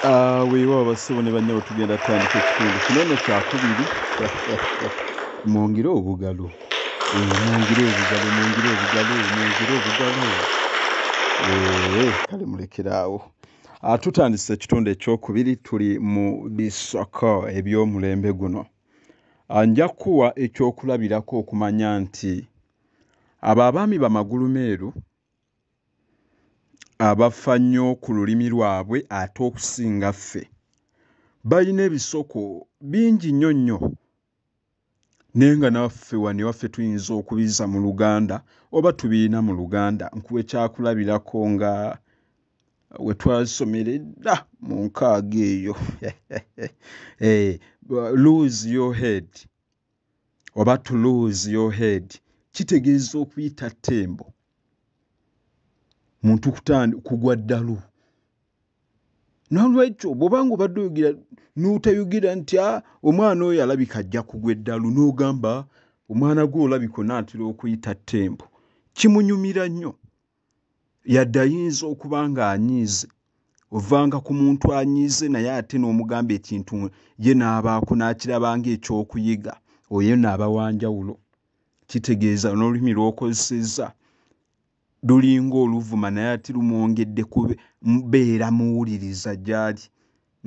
Ah, weewa abasibo ne bannyabo tugenda tutandika ekitundu kino no kyakubiri mwongere obugalo eh, mwongere obugalo mwongere obugalo mwongere obugalo eh, kale mulekere awo ah, tutandise ekitundu ekyokubiri tuli mu bisoko ebyomulembe guno ah, nja kuwa ekyokulabirako okumanya nti abo abaami bamagulumeeru abafa nyo kululimi lwabwe ate okusinga ffe bayina ebisoko bingi nyo nyo naye nga naffe wano ewaffe tuyinza okubiza muluganda oba tubiyina muluganda nkuwa ekyakulabirako nga wetwasomera edda munkaaga eyo eeh lose your head. oba to lose your head kitegeeza okuyita ttembo muntu kugwa ddalu nolwekyo bwobanga obadde oyogera notayogera nti ah, omwana oyo alabika ajja kugwa eddalu nogamba omwana gwe olabika onaatera okuyita ttembo kimunyumira nnyo yadde ayinza okuba nga anyiize ovanga ku muntu anyiize naye ate n'omugamba ekintu ye n'abaako n'akiraba ngaekyokuyiga oyo no aba wanjawulo kitegeeza n'olulimi lw'okozesezza lulinga oluvuma naye ate lumwongedde kubeera muwuliriza gy'ali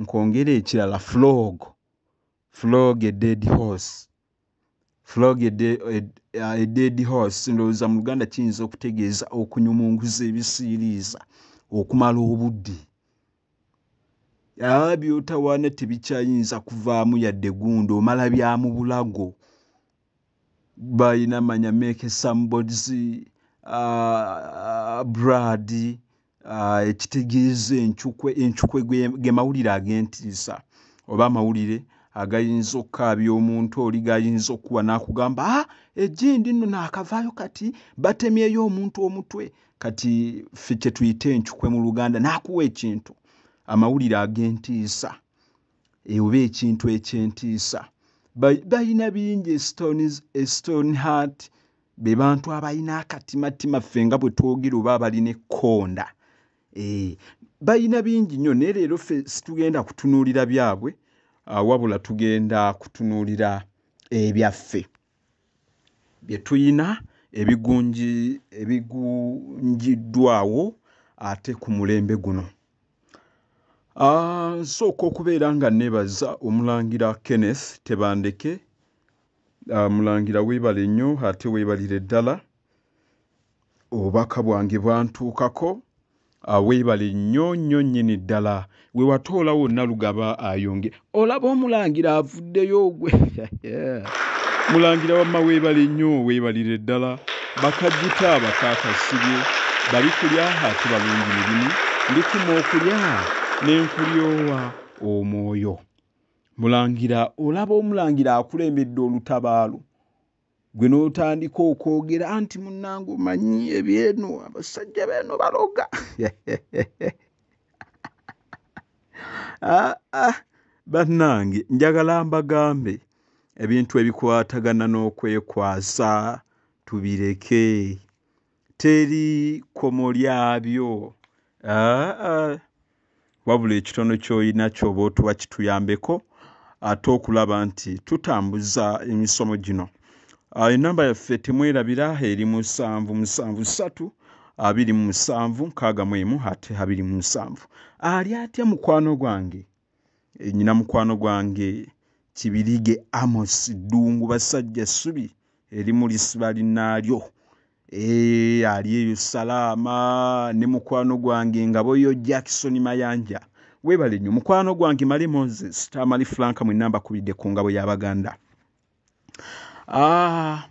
nkwongera ekirala flog Flog a dead horse. Flog a de, a, a dead horse ndowooza mu Luganda kiyinza okutegeeza okunyumunguza ebisiiriiza okumala obudde. Aa by'otawaana tebikyayinza kuvaamu yadde gundi omala bya mu bulago. bayina manya make some bods uh, brad uh, ekitegeeza encukwe encukwe ge mawulire ag'entiisa oba amawulire agayinza okukaabya omuntu oli gayinza okukuba n'akugamba a ah, ejindi nno naakavaayo kati batemyeyo omuntu omutwe kati ffe kye tuyite encukwe mu luganda n'akuwa ekintu amawulire ag'entiisa ewuba ekintu ekyentiisa balina bingi estone heart be bantu abalina akatimatima ffe nga bwe twogera oba abalina ekkonda eh, balina bingi nnyo naye leero ffe situgenda kutunuulira byabwe ah, wabula tugenda kutunuulira ebyaffe bye tulina ebigunjiddwawo ate ku mulembe guno. Nsooka okubeera nga nneebaza Omulangira Kenneth Tebandeke. Mulangira weebale nnyo ate weebalire ddala. Obubaka bwange bwantuukako. Ah, weebale nnyo nnyo nnyini ddala we watoola wonna lugaba ayonge olaba omulangira avuddeyo ogwe mulangira wamma weebale nnyo weebalire ddala bakajita bakaakasibye bali kulya ate balungi mirimu ndikuma okulya ne nkulyowa omwoyo mulangira olaba omulangira akulembedde olutabaalo gwe n'otandika okwogera anti munnange omanyi ebyeno abasajja beeno baloga ah, ah, bannange njagala mbagambe ebintu ebikwatagana n'okwekwasa tubireke teri kkomo lyabyo aa wabula ekitono ky'olina kyoba otuwa kituyambeko ate okulaba nti tutambuza emisomo gino enamba yaffe temwerabira eri musanvu musanvu ssatu abiri mu musanvu nkaaga mu emu ate abiri mu musanvu ali atya mukwano gwange eh, nyina mukwano gwange kibirige amos ddungu basajja ssubi erimu lisiba linnaalyo eh, ali eyo salaama ne mukwano gwange ngaboyo jackson mayanja webale nnyo mukwano gwange male moses tamali franka mwenna mbakubidde ku ngabo y'abaganda ah,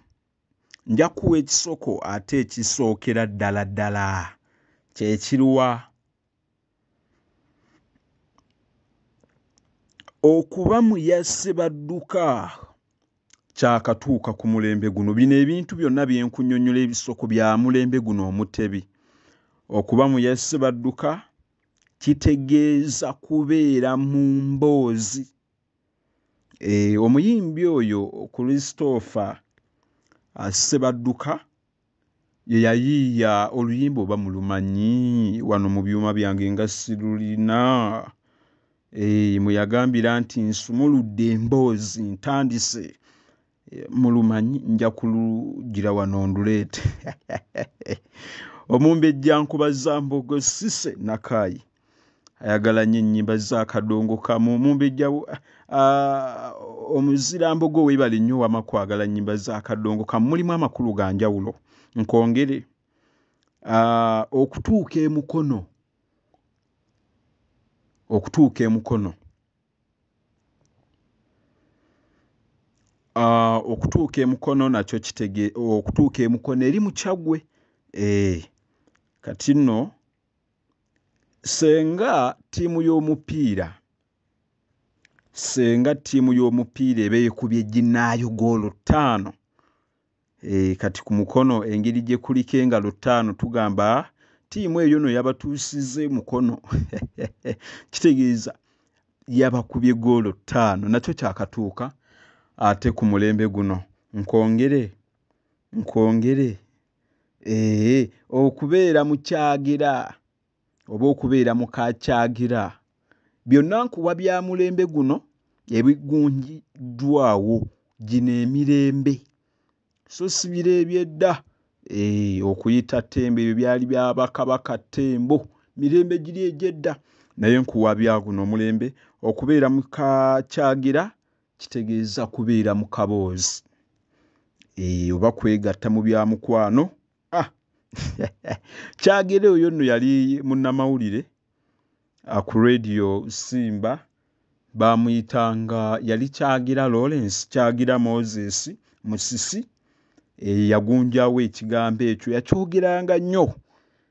nja kuwa ekisoko ate ekisookera ddala ddala kyekiruwa okuba mu yasse badduka kyakatuuka ku mulembe guno bino ebintu byonna bye nkunyonnyola ebisoko bya mulembe guno omutebi okuba mu yasse badduka kitegeeza kubeera mu mboozi e, omuyimbi oyo christopher asse badduka ye yayiiya oluyimba oba mulumanyi wano mu byuma byange nga sirulina eh, mwe yagambira nti nsumuludde emboozi ntandise eh, mulumanyi nja kulugira wano nduleete omumbejja nkubaza mbogo sise nakaayi ayagala nnyo ennyimba za kadongo kamu mumbejja omuzirambogo weebale nnyo wama kwagala nnyimba za kadongo kamu mulimu amakulu ga njawulo nkwongere okutuuka emukono okutuuka emukono okutuuka emukono nakyo kitege okutuuka emukono eri mukyagwe eh, kati nno Ssenga ttiimu y'omupiira ssenga ttiimu y'omupiira eba ekubye ginnaayo goolo ttaano eh, kati ku mukono engeri gye kuliko engalo ttaano tugamba ttiimu eyo no yabatuusiza emukono kitegeeza yabakubye goolo ttaano nakyo kyakatuuka ate ku mulembe guno nkwongere nkwongere Eeh okubeera mu kyagira oba okubeera mu ka kyagira byonna nkuwa bya mulembe guno ebigunjiddwawo. Gino emirembe so si biro eby'edda eeh okuyita ttembo ebyo byali bya bakabaka ttembo mirembe giri egy'edda naye nkuwa bya guno omulembe okubeera mu ka kyagira Kitegeeza kubeera mu kaboozi eeh oba kwegatta mu bya mukwano ah Kyagere oyo nno yali munnamawulire ah, ku Radio Simba baamuyitanga yali Kyagira Lawrence Kyagira Moses Musisi eyagunjaawo ekigambo ekyo yakyogeranga nnyo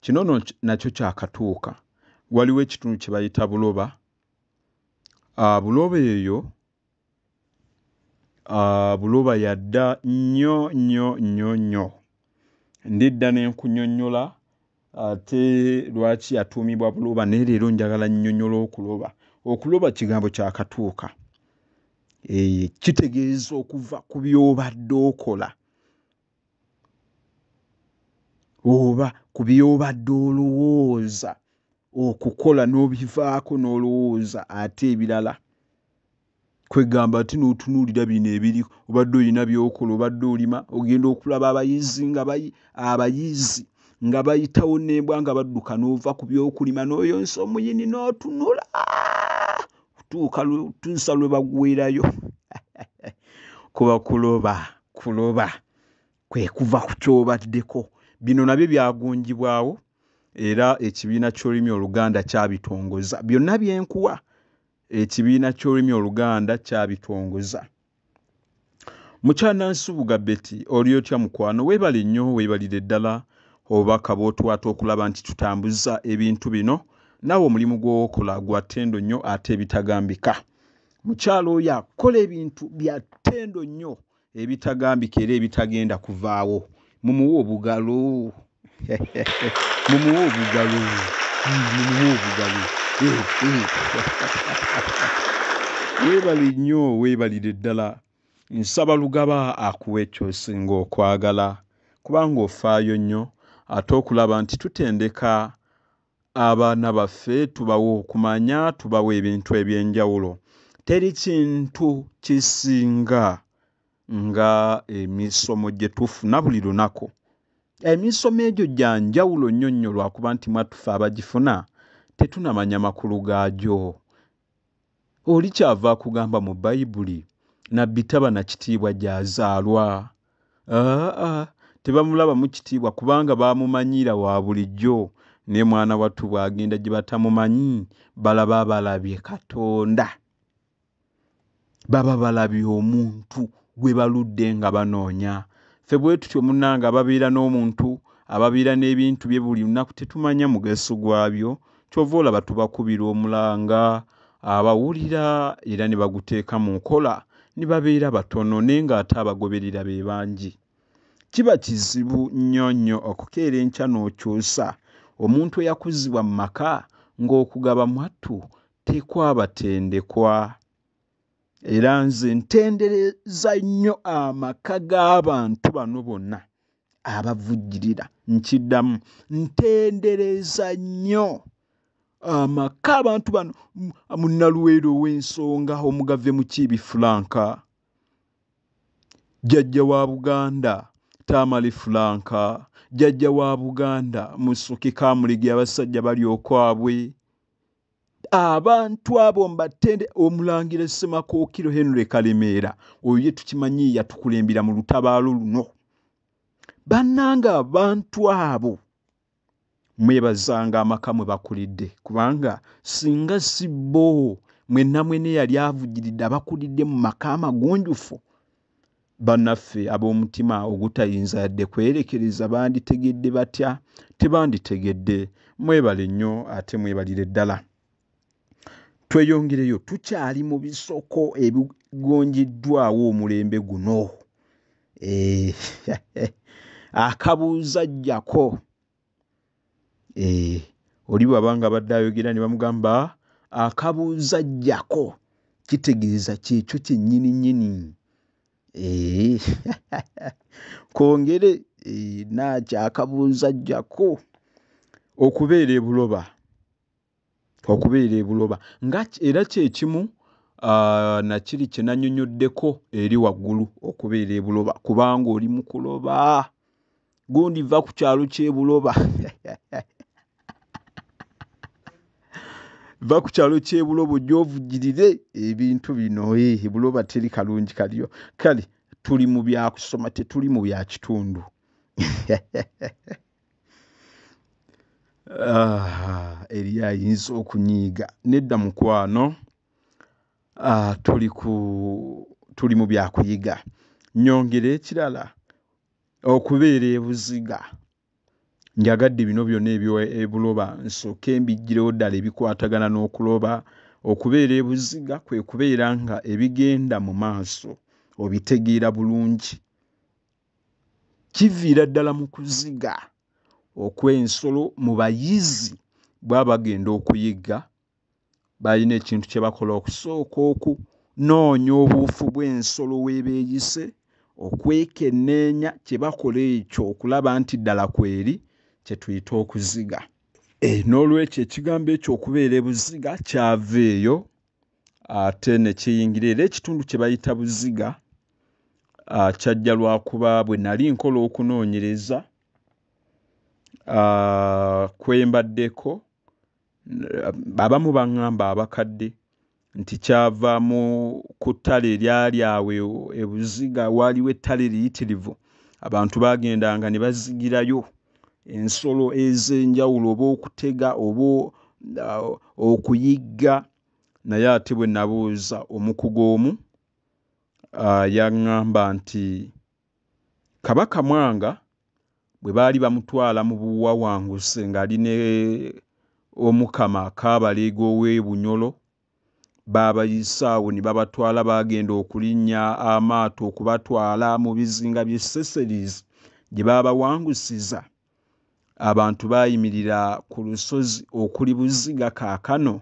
Kino no nakyo kyakatuuka. Waliwo ekitundu kye bayita Buloba. Uh, Buloba eyo uh, Buloba yadda nnyo nnyo nnyo nnyo. Ndidda ne nkunyonnyola ate lwaki yatuumibwa Buloba naye leero njagala nnyonnyola okuloba. Okuloba kigambo kyakatuuka. E, kitegeeza okuva ku by'obadde okola. oba ku by'obadde olowooza okukola n'obivaako n'olowooza ate ebirala. Kwegamba ate n'otunuulira bino ebiri obadde olina by'okola, obadde olima, ogenda okulaba abayizi nga bayi abayizi nga bayitawo n'embwa nga badduka n'ova ku by'okulima n'oyonsa omuyini n'otunula tuuka tuusa lwe bagwerayo kuba kuloba. kuloba kwe kuva ku ky'obaddeko. Bino nabyo byagunjibwawo era ekibiina ky'olulimi oluganda kyabitongoza. Byonna bye nkuwa ekibiina ky'olulimi oluganda kyabitongoza. Mukyanansubuga Betty oli otya mukwano? Weebale nnyo weebalire ddala obubaka bw'otuwaata okulaba nti tutambuza ebintu bino. Naawe omulimu gw'okola gwa ttendo nnyo ate ebitagambika. mukyalo oyo akola ebintu bya ttendo nnyo ebitagambika era ebitagenda kuvaawo mumuwa obugalo mumuwa obugalo mumuwa obugalo eh, eh. weebale nnyo weebalire ddala nsaba lugaba akuwa ekyosinga okwagala kubanga ofaayo nnyo ate okulaba nti tutendeka Abaana baffe tubawa okumanya, tubawa ebintu eby'enjawulo. Teri kintu kisinga nga emisomo gye tufuna buli lunaku. Emisomo egyo gya njawulo nnyo nnyo lwakuba nti mwattu ffe abagifuna tetunamanya makulu gaagyo. Oli kyava akugamba mu Bayibuli nabbi taba na kitiibwa gy'azaalwa? Aa-a, tebamulabamu kitiibwa kubanga bamumanyiira wa bulijjo. Naye mwana wattu bw'agenda gye batamumanyi, balaba balabye Katonda. Baba balabye omuntu gwe baludde nga banoonya. Ffe bwe tutyo munnange ababeera n'omuntu, ababeera n'ebintu bye buli lunaku tetumanya mugaso gwabyo. kyova olaba tubakubira omulanga abawulira era ne baguteeka mu nkola ne babeera batono naye ng'ate abagoberera be bangi. Kiba kizibu nnyo nnyo okukeera enkya n'okyusa omuntu eyakuzibwa mu maka ng'okugaba mwattu tekwabatendekwa. Era nze ntendereza nnyo amaka g'abantu bano bonna. abavujjirira nkiddamu ntendereza nnyo amaka abantu bano munnaluweero ow'ensonga omugave mukiibi fulanka jjajja wa buganda tamale fulanka jjajja wa buganda musoke kamulige abasajja bali okwabwe abantu abo mbatende omulangira ssemakokiro henry kalemeera oyo ye tukimanyi yatukulembera mu lutabaalo luno bannanga abantu abo mwebazanga amaka mwe bakulidde kubanga singa si bo mwenna mwene yali avugiridde abakulidde mu maka amagunjufu Bannaffe ab'omutima ogutayinza yadde kwerekereza banditegedde batya? Tebanditegedde. Mwebale nnyo ate mwebalire ddala. Tweyongereyo, tukyali mu bisoko ebigonjiddwawo omulembe guno. Eh, akabuuza jjako. eh, oli bwaba nga abadde ayogera ne bamugamba akabuuza jjako kitegeeza kyekyo kyennyini nnyini eh, kongere eh, nakyakabuuza jjako okubeera ebuloba okubeera e Buloba nga era kye kimu uh, na kiri kye nanyonyoddeko eri waggulu okubeera e Buloba kubanga oli mu kuloba gundi va ku kyalo ky'e Buloba va ku kyalo ky'e Buloba ojja ovugirire ebintu bino e Buloba teri kalungi kaliyo kale tuli mu byakusoma tetuli mu bya kitundu Ah, eri ayinza okunyiiga nedda mukwano ah, tuli ku tuli mu byakuyiga nyongera ekirala okubeera ebuziga njagadde bino byona ebyobuloba nsooke mbijjirewo ddala ebikwatagana n'okuloba okubeera ebuziga kwe kubeera nga ebigenda mu maaso obitegeera bulungi kiviira ddala mu kuziga okw'ensolo mu bayizi bwaba bagenda okuyigga balina ekintu kye bakola okusooka okunoonya obuufu bw'ensolo weebeeyise okwekenneenya kye bakola ekyo okulaba nti ddala kweri kye tuyita okuziga. Eh, n'olwekyo ekigambo ekyo okubeera ebuziga kyava eyo ate ne kiyingira era ekitundu kye bayita Buziga kyajja lwa kuba bwe nali nkola okunoonyereza kwe mbaddeko abamu baŋŋamba abakadde nti kyava mu ku ttale eryali awo e, e Buziga waaliwo ettale eriyitirivu abantu baagendanga ne bazigirayo ensolo ez'enjawulo oba okutega oba okuyigga naye ate bwe nabuuza omukugu omu yaŋŋamba nti Kabaka Mwanga bwe baali bamutwala mu buwawanguzi ng'ali ne Omukama Kaabaleega ow'e Bunyolo Baabayisa awo ne babatwala baagenda okulinnya amaato okubatwala mu bizinga by'e Seseris gye baabawangusiza. Abantu baayimirira ku lusozi okuli Buziga kaakano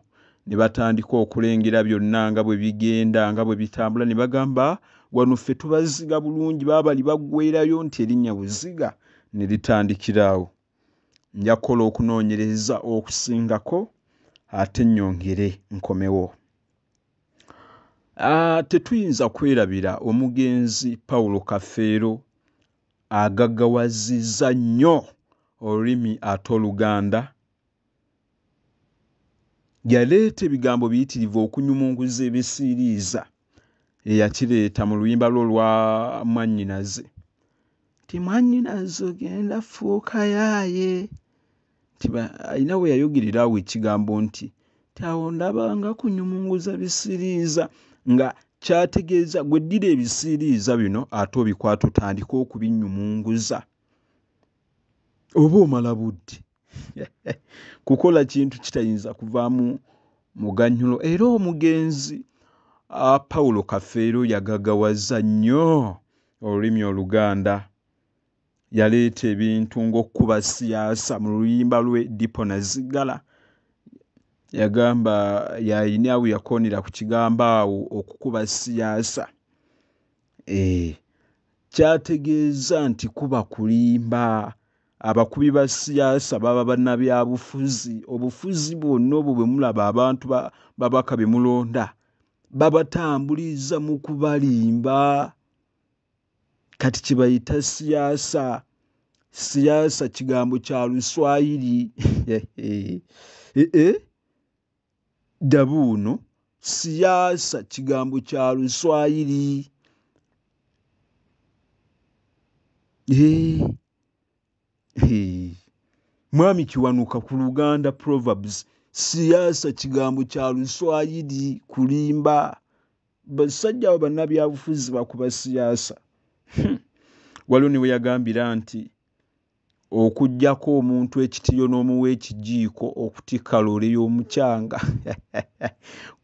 ne batandika okulengera byonna nga bwe bigenda nga bwe bitambula ne bagamba, Wano ffe tubaziga bulungi. Baabali baggweerayo nti erinnya Buziga ne litandikira awo. Nja kukola okunoonyereza okusingako ate nnyongere nkomewo. Ah, tetuyinza kwerabira omugenzi Paulo Kafeero agagawazizza nnyo olulimi ate Oluganda. Yaleeta ebigambo biyitirivu okunyumunguza ebisiiriiza. eyakireeta mu luyimba lwe olwa mwannyinaze nti mwannyinaze ogenda fuuka yaaye nti ba alina we yayogerera awo ekigambo nti ti awo ndaba nga kunyumunguza bisiriiza nga kyategeeza gwe ddira ebisiiriiza bino ate obikwata otandike okubinnyumunguza oba omala budde kukola kintu kitayinza kuvaamu muganyulo era omugenzi ah, pawulo kafeero yagagawaza nnyo olulimi oluganda yaleeta ebintu ng'okukuba siyaasa mu luyimba lwe dipo nazigala yagamba yayini awo yakoonera ku kigambo awo okukuba siyaasa eh, kyategeeza nti kuba kulimba abakubi ba siyaasa baba bannabyabufuzi obufuzi bwonna obwo bwe mulaba abantu babaka be mulonda babatambuliza mu kubalimba kati kye bayita siyaasa siyaasa kigambo kya luswayiri ee eh, eh, eh? Dabuuno, Siyaasa kigambo kya Luswayiri. Eeh hee Mwami Kiwanuka ku Luganda Proverbs, Siyaasa kigambo kya Luswayiri, kulimba. Bassajja abo bannabyabufuzi bakuba siyaasa. Waliwo ne we yagambira nti. Okujjako omuntu ekitiyo nomuwa ekijiiko okutikka loole yomukyanga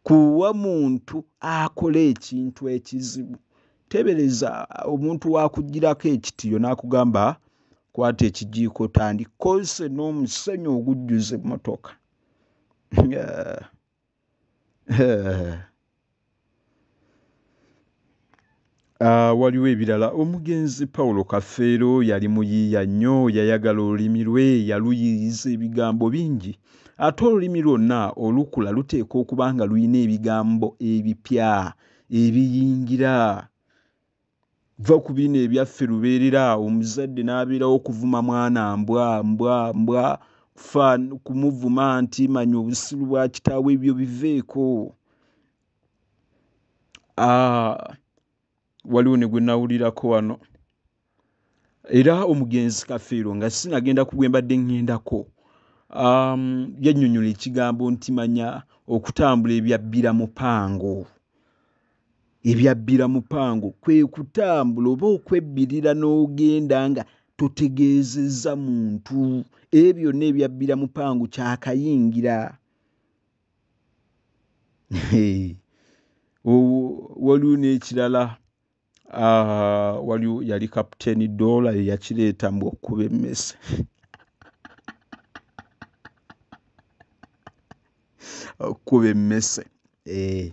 kuwa muntu akola ekintu ekizibu tebereza omuntu wakujjirako ekitiyo nakugamba kwata ekijiiko otandike kozese nomusenyu ogujjuze emotoka. Ah, waliwo ebirala omugenzi pawulo kafeero yali muyiiya nnyo yayagala olulimi lwe yaluyiiyiza ebigambo bingi ate olulimi lwonna olukula luteekwa okuba nga lulina ebigambo ebipya ebiyingira Vva ku bino ebyaffe lubeerera awo omuzadde n'abeerawo okuvuma mwana mbwa mbwa mbwa fa kumuvuma nti manya obusiru bwa kitaawo ebyo biveeko ah, waliwo ne gwe nawulirako wano era omugenzi kafeero nga sinagenda ku gwe mbadde ŋŋendako um, yannyonnyola ekigambo nti manya okutambula ebyabbira mupango Ebyabbira Mupango kwe kutambula oba okwebbirira n'ogenda nga totegeezezza muntu. Ebyo byonna ebyabbira Mupango kyakayingira. Waliwo n'ekirala ah, waliwo yali kapiteeni doola ye yakireeta mbu okukuba emmese okukuba emmese eh,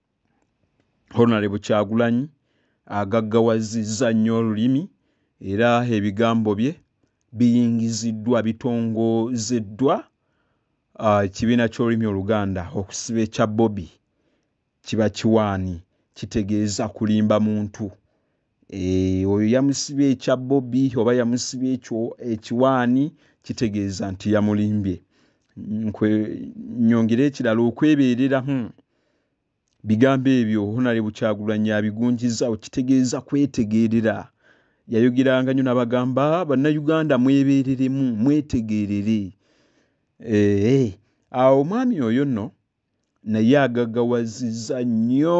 honalebo kyagulanyi agaggawazizza nnyo olulimi era ebigambo bye biyingiziddwa bitongozeddwa ekibiina uh, ky'olulimi oluganda okusiba ekya bobi kiba kiwaani kitegeeza kulimba muntu Eh, oyo yamusibye ekya bobi oba yamusibye ekyo ekiwaani kitegeeza nti yamulimbye nyongere ekirala okwebeerera hmm. bigambo ebyo honale bukyagulanyi abigunjiza okitegeeza kwetegeerera yayogeranga nyo nabagamba bannayuganda mwebeereremu mwetegeerere eh, eh. awo omwami oyo nno naye agagawaziza nnyo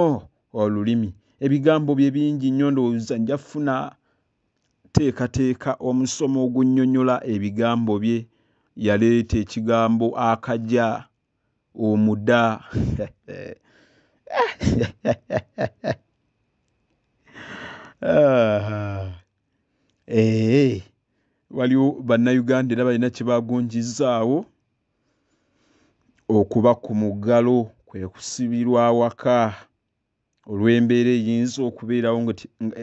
olulimi ebigambo bye bingi nnyo ndowooza nja funa teekateeka omusomo ogunyonyola ebigambo bye yaleeta ekigambo akaja omuda ee waliwo bannayuganda era balina kyebagunjizaawo okuba ku muggalo kwe kusibirwa awaka olw'embeera eyinza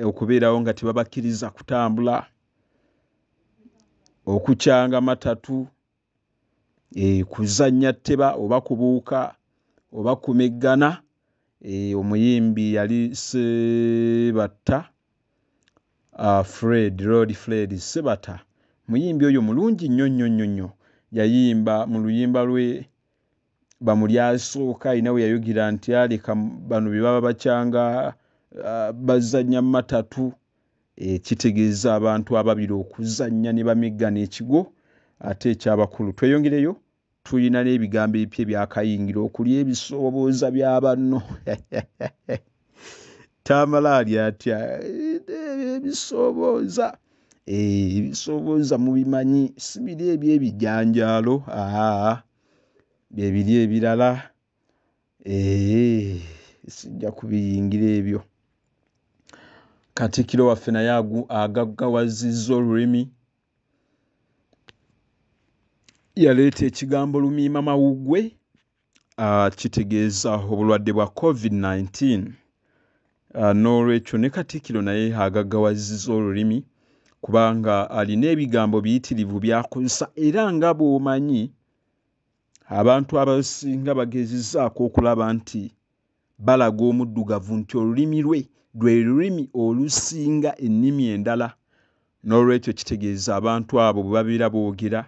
okubeerawo nga tebabakkiriza kutambula okukyanga matatu eh, kuzannya tteba oba kubuuka oba kumeggana eh, omuyimbi yali sebatta Uh, Fred, Lord Fred Sebata muyimbi oyo mulungi nnyo nnyo nnyo nnyo. Yayimba mu luyimba lwe bamu lyasooka alina we yayogera nti aleka bano bye baba bakyanga uh, bazannya mu matatu e, kitegeeza abantu ababiri okuzannya ne bameggana ekigo ate ekyabakulu. Tweyongereyo Tulina n'ebigambo ebipya ebyakayingira okuli ebisooboza bya banno. Tamala ali atya ebisooboza eh, ebisooboza mubimanyi si biri ebyebijanjaalo aa byebiri ebirala eh, sijja kubiyingira ebyo. Katikkiro waffe naye agaggawazizza olulimi yaleeta ekigambo lumiima mawuggwe ah, kitegeeza obulwadde bwa covid-19 ah, n'olwekyo ne katikkiro naye agaggawaziza olulimi kubanga alina ebigambo biyitirivu byakozesa era nga bw'omanyi abantu abasinga bagezezaako okulaba nti balaga Omuddugavu nti olulimi lwe lwe lulimi olusinga ennimi endala, n'olwekyo kitegeeza abantu abo bwe babeera boogera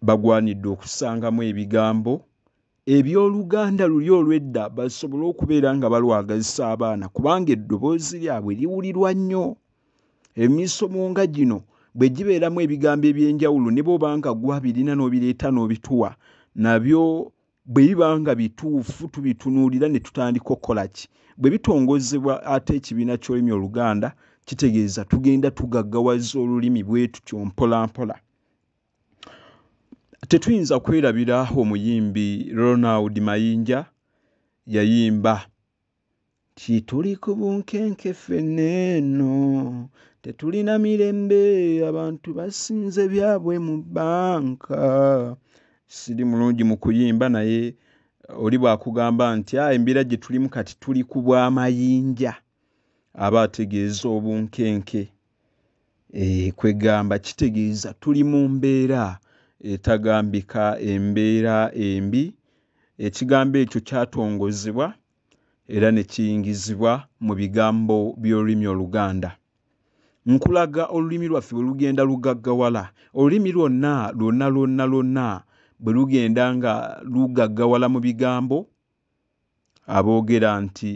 bagwanidde okusangamu ebigambo eby'oluganda luli olw'edda basobole okubeera nga balwagazisa abaana kubanga eddoboozi lyabwe liwulirwa nnyo. Emisomo nga gino bwe gibeeramu ebigambo eby'enjawulo ne bw'oba nga ggwe abirina n'obireeta n'obituwa nabyo bwe biba nga bituufu tubitunuulira ne tutandika okukola ki bwe bitongozebwa ate ekibiina ky'olulimi oluganda kitegeeza tugenda tugaggawaza olulimi bwe tutyo mpolampola tetuyinza kwerabira omuyimbi ronald mayinja yayimba Kituli ku bunkenke ffenna eno, tetulina mirembe, abantu basinze byabwe mu bbanka. Siri mulungi mu kuyimba naye oli bw'akugamba nti ah, embeera gye tulimu kati tuli ku bw'amayinja aba ategeeza obunkenke. Eeh kwegamba kitegeeza tuli mu mbeera etagambika, embeera embi. Ekigambo ekyo kyatongozebwa era ne kiyingizibwa mu bigambo by'olulimi Oluganda. Nkulaga olulimi lwaffe bwe lugenda lugaggawala. Olulimi lwonna lwonna lwonna lwonna bwe lugenda nga lugaggawala mu bigambo, aboogera nti.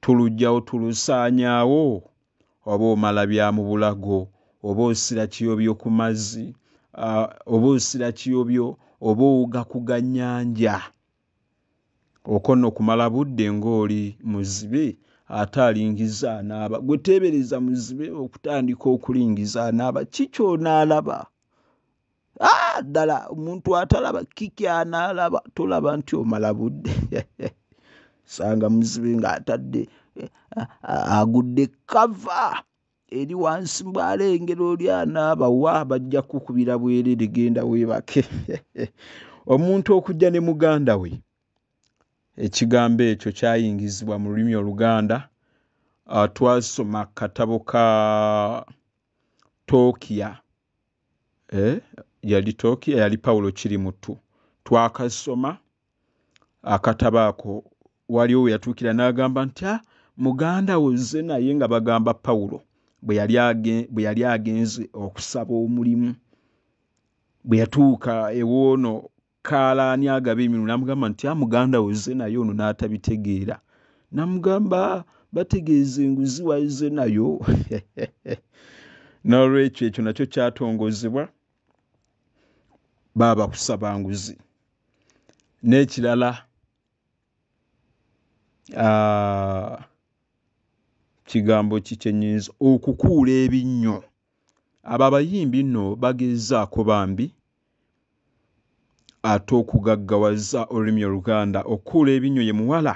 Tuluggyawo tulusaanyaawo oba omala bya mu bulago oba osira kiyobyo ku mazzi oba osira kiyobyo oba owuga ku gannyanja. Okwo nno kumala budde ng'oli muzibe ate alingiza anaaba. Ggwe teebereza muzibe okutandika okulingiza anaaba ki ky'onaalaba ah, ddala omuntu atalaba kiki anaalaba tolaba nti omala budde sanga muzibe ng'atadde eh, agudde kava eri wansi mbwalengera oli anaaba wa bajja kukubira bwerere genda weebake omuntu okujja ne muganda we ekigambo ekyo kyayingizibwa mu lulimi oluganda ah, twasoma katabo ka tokia eh, yali toki eyali pawulo kiri muttu twakasoma akataba ako waliwo we yatuukira n'agamba nti a ah, muganda wo zze naye nga bagamba pawulo bwe yali agenze okusaba omulimu bwe yatuuka ewoono kaala ani agaba emirimu n'amugamba nti amuganda ah, weze naye ono n'atabitegeera n'amugamba ah, bategeeza enguzi waize nayo n'olwekyo ekyo nakyo kyatongozebwa baaba kusaba nguzi n'ekirala ah, kigambo ki kyenyinza okukuula ebinnyo Abo abayimbi no bagezaako bambi ate okugaggawaza olulimi oluganda okukuula ebinnyo ye muwala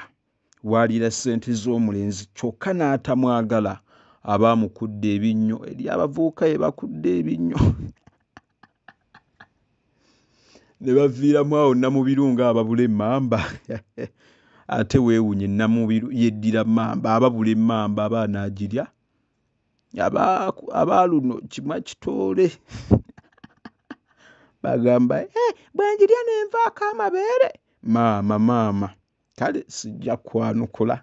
waalira ssente z'omulenzi kyokka n'atamwagala aba amukudde ebinnyo eriyo abavubuka be bakudde ebinnyo ne baviiramu awo Namubiru ng'ababula emmamba ate weewuunye Namubiru yeddira mmamba ababula emmamba aba anaagirya abaaluno kima kitoole bagamba eh, bwengirya nenvaako amabeere maama maama kale sijja kwanukula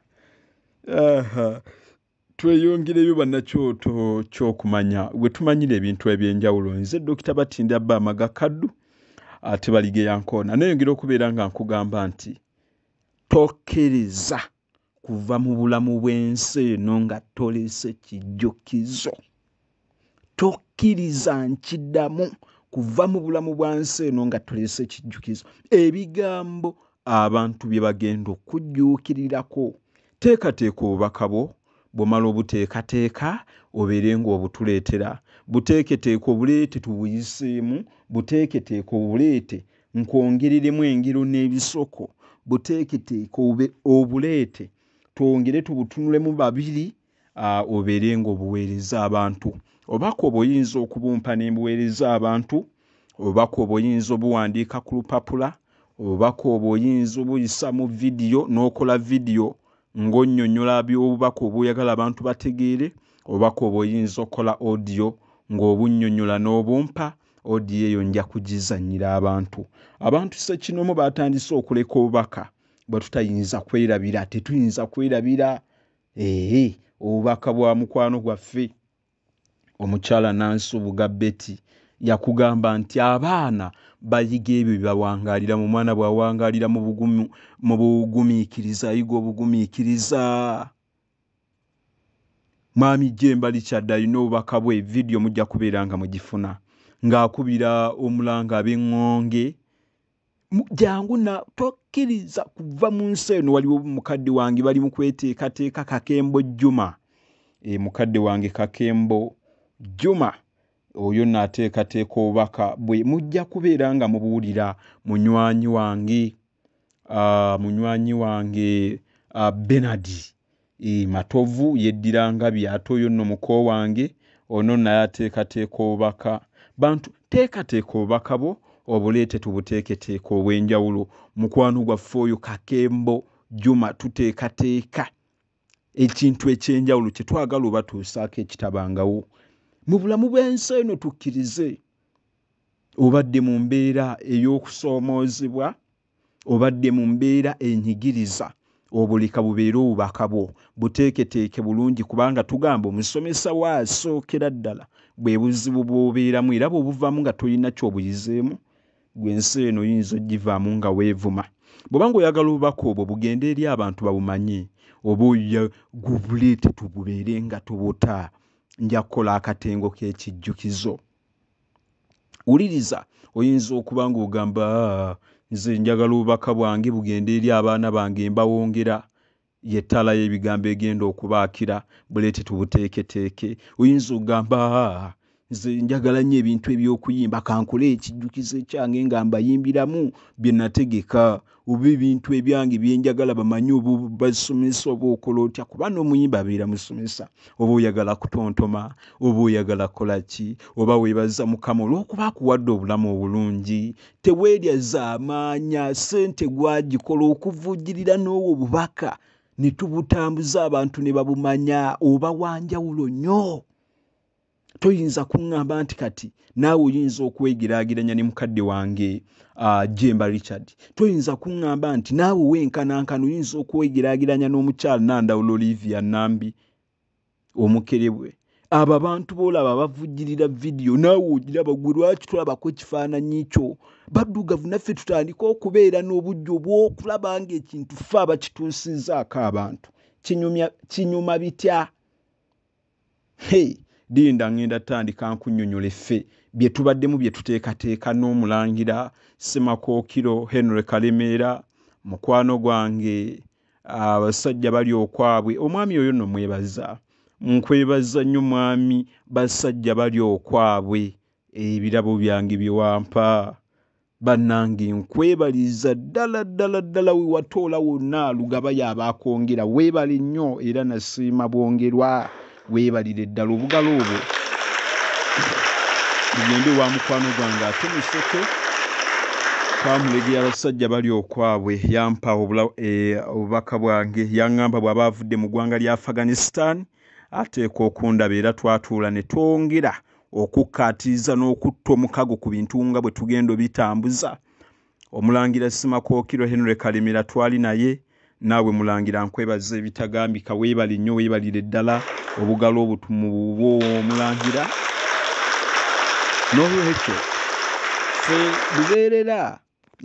tweyongereyo bannakyoto kyokumanya gwe tumanyira ebintu ebyenjawulo nze dokita batinda bba amaga kaddu ate baligeyankoona neyongera okubeera nga nkugamba nti tokkiriza kuva mu bulamu bw'ensi eno nga toleese kijjukizo tokkiriza nkidamu kuva mu bulamu bwa nsi eno nga toleese kijjukizo ebigambo abantu bye bagenda okujjuukirirako teekateeka obubaka bwo bwomala obuteekateeka obeere ng'obutuleetera buteeketeeka obuleete tubuyiseemu buteeketeeka obuleete nkwongereremu engero n'ebisoko buteeketeeke obe obuleete twongere tubutunulemu babiri obeere ng'obuweereza abantu obubaka obwo oyinza okubumpa ne mbuweereza abantu obubaka obwo oyinza obuwandiika ku lupapula obubaka obwo oyinza obuyisa mu vidiyo n'okola vidiyo ng'onnyonnyola by'obubaka obwoyagala abantu bategeere obubaka obwo oyinza okukola odiyo ng'obunnyonnyola n'obumpa odiyo eyo nja kugizanyira abantu abantu sekinomu batandise okuleka obubaka bwe tutayinza kwerabira tetuyinza kwerabira ee obubaka bwa mukwano gwaffe omukyala nansubuga beti yakugamba nti abaana bayiga ebyo byebawangalira mu mwana bwawangalira mu bugumiikiriza ayiga obugumiikiriza Mwami Jemba Richard alina obubaka bwe, video mujja kubeera nga mugifuna ng'akubira omulanga ab'eŋŋonge jangu na tokkiriza kuva mu nsi eno waliwo mukadde wange bali mu kweteekateeka kakembo jjuma e, mukadde wange kakembo jjuma oyo naateekateeka obubaka bwe mujja kubeera nga mubuwulira munywanyi wange uh, munywanyi wange uh, benard e, matovu yeddira ngabi ate oyo nno muko wange ono naye ateekateeka obubaka bantu teekateeka obubaka bwo obuleete tubuteeketeeka obw'enjawulo mukwano gwaffe oyo kakembo juma tuteekateeka ekintu ekyenjawulo kyetwagala obatuusaako ekitabangawo mu bulamu bw'ensi eno tukkirize obadde mu mbeera ey'okusoomoozebwa obadde mu mbeera enyigiriza obuleka bubeere obubaka bwo buteeketeeke bulungi kubanga tugamba omusomesa wo asookera ddala bwe buzibu bw'obeeramu era bwebuvamu nga tolina kyobuyizeemu Gwe ensi eno oyinza ogivaamu nga weevuma? Bw'oba nga oyagala obubaka obwo bugende eri abantu babumanye, oba oya gubuleete tububeere nga tubuta, nja kukola akatengo k'ekijjukizo. Wuliriza, oyinza okuba nga ogamba, Aa, nze njagala obubaka bwange bugende eri abaana bange mbawongera. Y'ettaala y'ebigambo egenda okubaakira buleete tubuteeketeeke. Oyinza okugamba, Haa, nze njagala nnyo ebintu eby'okuyimba, kankole ekijjukizo ekyange nga mbayimbiramu bye nategeka, oba ebintu ebyange bye njagala bamanye oba obasomesa oba okola otya kuba n'omuyimbi abeera musomesa. Oba oyagala kutontoma, oba oyagala kukola ki, oba weebaza Mukama olw'okuba akuwadde obulamu obulungi teweerya zaamaanya ssente gwagikola okuvujjirira n'owo bubaka ne tubutambuza abantu ne babumanya oba wanjawulo nnyo toyinza kuŋŋamba nti kati naawe oyinza okwegeraageranya ne mukadde wange uh, jemba richard toyinza kuŋŋamba nti naawe wenkanankana oyinza okwegeraageranya n'omukyala nandawula olivia nambi omukerebwe abo abantu boolaba bavujjirira vidiyo naawe ogiraba gwe lwaki tolabako ekifaananyi kyo baddugavu naffe tutandika okubeera n'obujja obw'okulaba ng'ekintu fe abakituusizaako abantu kinyuma bitya hey linda ngenda tandika nkunyonyola effe bye tubaddemu bye tuteekateeka n'omulangira semakookiro henry kalemeera mukwano gwange abasajja bali okwabwe omwami oyo no mwebaza nkwebaza nnyo mwami basajja bali okwabwe ebirabo byange byewampa bannange nkwebaliza ddala ddala ddala wewatoola wonna lugaba yaba akwongera weebale nnyo era nasiima bwongerwa weebalire ddala obugalo obwo bugende wa mukwano gwange ate museke twamulegera abasajja bali okwabwe yampa eh, obubaka bwange yaŋŋamba bw'aba avudde mu ggwanga lya afghanistan ateeka okundaba era twatuula ne twongera okukkaatiriza n'okutta omukago ku bintu nga bwe tugenda obitambuza Omulangira Ssimakookiro Henry Kalemera twali naye. Naawe Mulangira nkwebaza ebitagambika weebale nnyo weebalire ddala obugalo obutumu bubwo Omulangira. N'olwekyo ffe lubeerera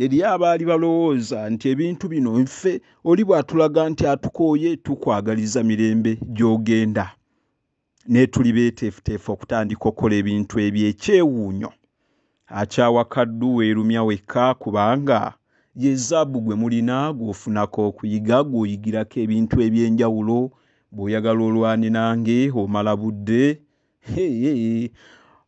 eri abaali balowooza nti ebintu bino nfe oli bw'atulaga nti atukooye tukwagaliza mirembe gy'ogenda. naye tuli beeteefuteefu okutandika okukola ebintu eby'ekyewuunyo. Akyawa kaddu weerumya wekka kubanga ye zaabu gwe mulina gw'ofunako okuyiga gw'oyigirako ebintu eby'enjawulo bw'oyagala olwane nange omala budde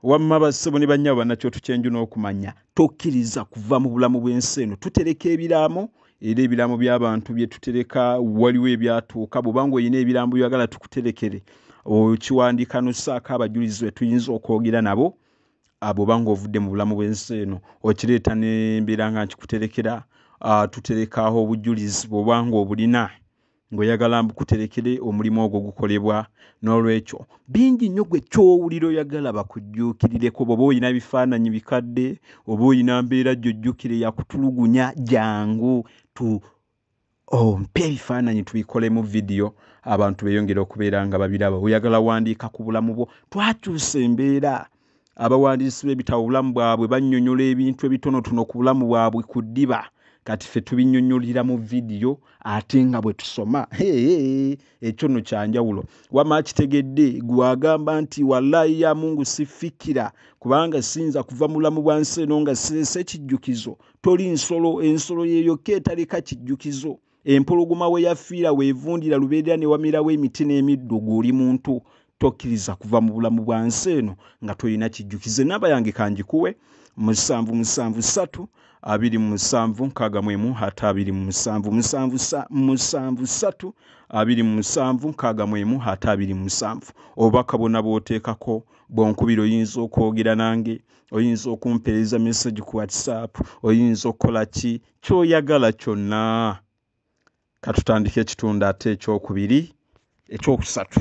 wamma bassebo ne bannyabo bannakyoto kyenju n'okumanya tokkiriza kuva mu bulamu bw'ensi eno tutereka ebiraamo era ebilambo by'abantu bye tutereka waliwo ebyatuuka bw'oba ng'olina ebilambo byagala tukuterekere okiwandiika n'ossaako abajulizi be tuyinza okwogera nabo bw'oba ng'ovudde mu bulamu bw'ensi eno okireeta ne mbeera nga nkikuterekera tuterekaaho obujulizi bw'oba ng'obulina ng'oyagala mbu kuterekere omulimu ogwo gukolebwa n'olwekyo bingi nnyo gwe kyowulira oyagala bakujjuukirireko bwoba olina bifaananyi bikadde oba olina mbeera gyojjukire yakutulugunya jangu tu ompe oh, ebifaananyi tubikolemu vidiyo abantu beyongere okubeera nga babiraba oyagala wandiika ku bulamu bwo twakyusa embeera abawandiisi b'ebitabo obulamu bwabwe bannyonyola ebintu ebitonotono ku bulamu bwabwe ku ddiba kati ffe tubinnyonyolera mu vidiyo ate nga bwe tusoma ekyo nno kya njawulo wama akitegedde gwe agamba nti wallayi ya mungu sifikira kubanga siyinza kuva mu bulamu bwa nsi eno nga sirese ekijjukizo toli nsolo ensolo yeyokka etaleka kijjukizo empologoma we yafiira weevundira lubeerera ne wamerawo emiti n'emiddo gw'oli muntu tokkiriza kuva mu bulamu bwa nsi eno nga tolina kijjukize namba yange kangikuwe musanvu musanvu ssatu abiri mu musanvu nkaaga mu emu ate abiri mu musanvu musanvu musanvu ssatu abiri mu musanvu nkaaga mu emu ate abiri mu musanvu obubaka bwonna bw'oteekako bwonkubira oyinza okwogera nange oyinza okumpeereza message ku whatsapp oyinza okukola ki ky'oyagala kyonna katutandika ekitundu ate ekyokubiri ekyokusatu